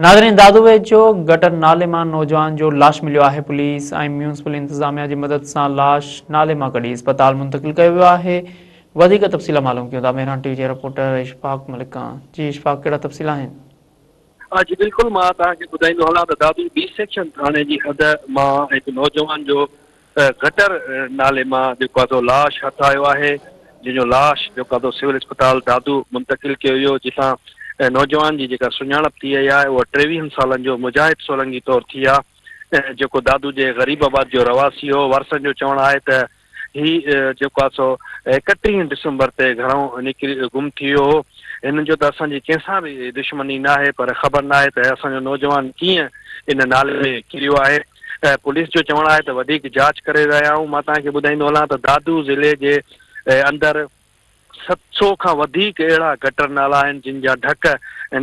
ناظرين دادو ويجهو گٽر نالي مان نوجوان جو لاش مليو آهي پوليس ۽ ميونسپل انتظاميا جي مدد سان لاش نالي مان ڪڍي اسپتال منتقل ڪيو ويو آهي وڌيڪ تفصيل معلوم ڪيون ٿا مهراڻ ٽي وي جي رپورٽر اشفاق ملڪ کان جي اشفاق ڪهڙا تفصيل آهن ها جي بلڪل مان توهان کي ٻڌائيندو هلان ته دادو بي سيڪشن ٿاڻي جي حد مان هڪ نوجوان جو ته گٽر نالي مان جيڪو آهي سو لاش هٿ آيو آهي جنهن جو لاش جيڪو آهي سو سول اسپتال دادو منتقل ڪيو ويو جتان نوجوان جي جيڪا سڃاڻپ ٿي وئي آهي اها ٽيويهن سالن جو مجاهد سولنگي طور ٿي آهي جيڪو دادو جي غريب آباد جو رهواسي هو وارثن جو چوڻ آهي ته هي جيڪو آهي سو ايڪٽيهين ڊسمبر تي گهرئون نڪري گم ٿي ويو هو هن جو ته اسان جي ڪنهن سان به دشمني ناهي پر خبر ناهي ته اسان جو نوجوان ڪيئن ان نالي ۾ ڪريو آهي. پوليس جو چوڻ آهي ته وڌيڪ جاچ ڪري رهيا آهيون، مان توهان کي ٻڌائيندو هلان ته دادو ضلعي جي اندر ست سؤ کان وڌيڪ اهڙا گٽر نالا آهن جن جا ڍڪ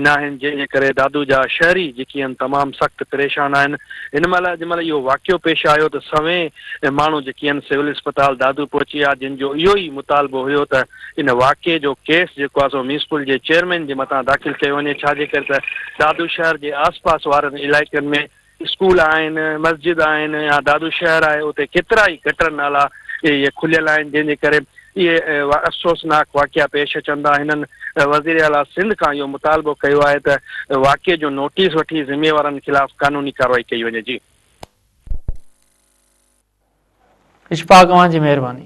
ناهن جنهن جي ڪري دادو جا شهري جيڪي آهن تمام سخت پريشان آهن هن مهل اڄ مهل اهو واقعو پيش آيو ته سوين ماڻهو جيڪي آهن سول اسپتال دادو پهچي ويا جن جو اهو ئي مطالبو هيو ته ان واقعي جو ڪيس جيڪو آهي سو ميونسپل جي چيئرمين جي مٿان داخل ڪيو وڃي ڇا جي ڪري ته دادو شهر جي آس پاس وارن علائقن ۾ اسڪول آهن، مسجد آهن يا دادو شهر آهي اتي ڪيترائي گٽر نالا اهي کليل آهن جنهن جي ڪري اهي افسوسناڪ واقعا پيش اچن ٿا هنن وزير اعليٰ سنڌ کان اهو مطالبو ڪيو آهي ته واقعي جو نوٽيس وٺي ذميوارن خلاف قانوني ڪارروائي ڪئي وڃي جي. اشفاق اوهان جي مهرباني.